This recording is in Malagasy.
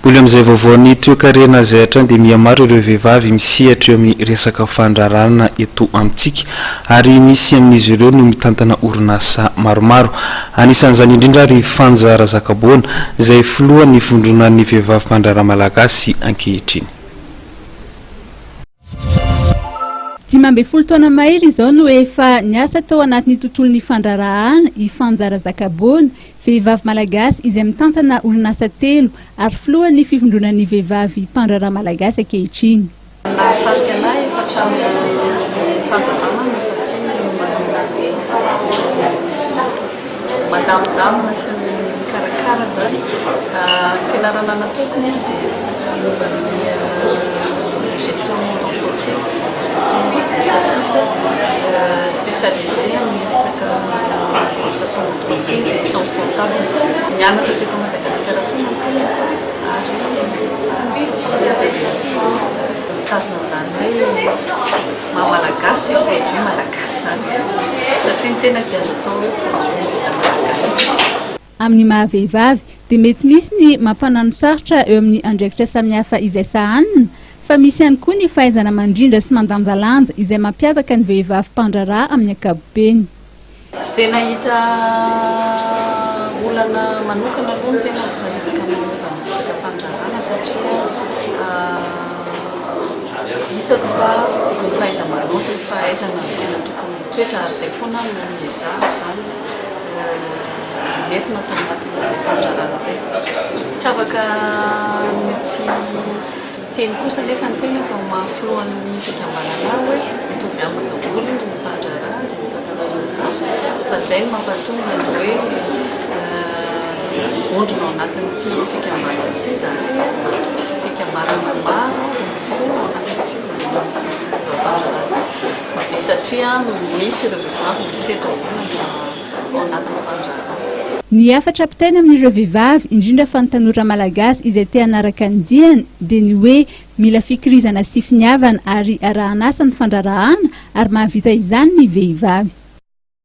Mbola amin'izay vaovaon'ny toekarena izay hatrany dia mihamaro ireo vehivavy misehatra eo amin'ny resaka fandraharahana eto amintsika ary misy amin'izy ireo no mitantana orinasa maromaro. Anisan'izany indrindra ary i Fanja Razakaboana izay filohan'ny vondronan'ny vehivavy mpandraharaha malagasy ankehitriny. Dimy ambin'ny folo taona mahery izao no efa niasa tao anatin'ny tontolon'ny fandraharahana i Fanjara Zakaboana, vehivavy malagasy izay mitantana orinasa telo ary filohan'ny Fivondronan'ny vehivavy mpandraharaha malagasy ankehitriny. Ny nahasarika anay efa hatramin'ny fahazazana no efa tiany ny manoloana ny teny. mandamindamina sy ny mikarakara zany ny fianarana nataoko moa dia resaka momba ny gestion d'entreprise spécialisé amin'ny resaka administration d'entreprise et sciences comptables nianatra teto Madagasikara foana ny tenako ary mitazona an'izany hoe Maha malagasy io produit malagasy zany satria ny tena dia azo atao hoe produit vita malagasy. Amin'ny maha vehivavy dia mety misy ny mampananosarotra eo amin'ny andraikitra samihafa izay sahanina fa misy ihany koa ny fahaizana mandrindra sy mandanjalanja izay mampiavaka ny vehivavy mpandraharaha amin'ny ankapobeny. Tsy dia nahita olana manokana aloha ny tena ny resaka momba ny resaka fandraharahana satria hitako fa ny fahaiza-manao sy ny fahaizana no tena tokony mitoetra ary izay foana no niezahako izany nentina tao anatin'izay fandraharahana izay. Tsy afaka ny tsy Teny kosa nefa ny teny atao mafy filohan'ny fikambanana hoe mitovy amiko daholo ny mpandraharaha dia ny mpantanana orinasa fa izay no mampatonga ny hoe vondrona ao anatin'ity fikambanana ity izany hoe fikambanana maro no mifono ao anatin'ity fikambanana mpandraharaha ity dia satria misy ireo vehivavy misedra olona ao anatin'ny fandraharahana. Ny hafatra ampitaina amin'ireo vehivavy, indrindra fa ny tanora malagasy izay te hanaraka ny diany, dia ny hoe mila fikirizana sy finiavana ary arahan'asa ny fandraharahana ary mahavita izany ny vehivavy.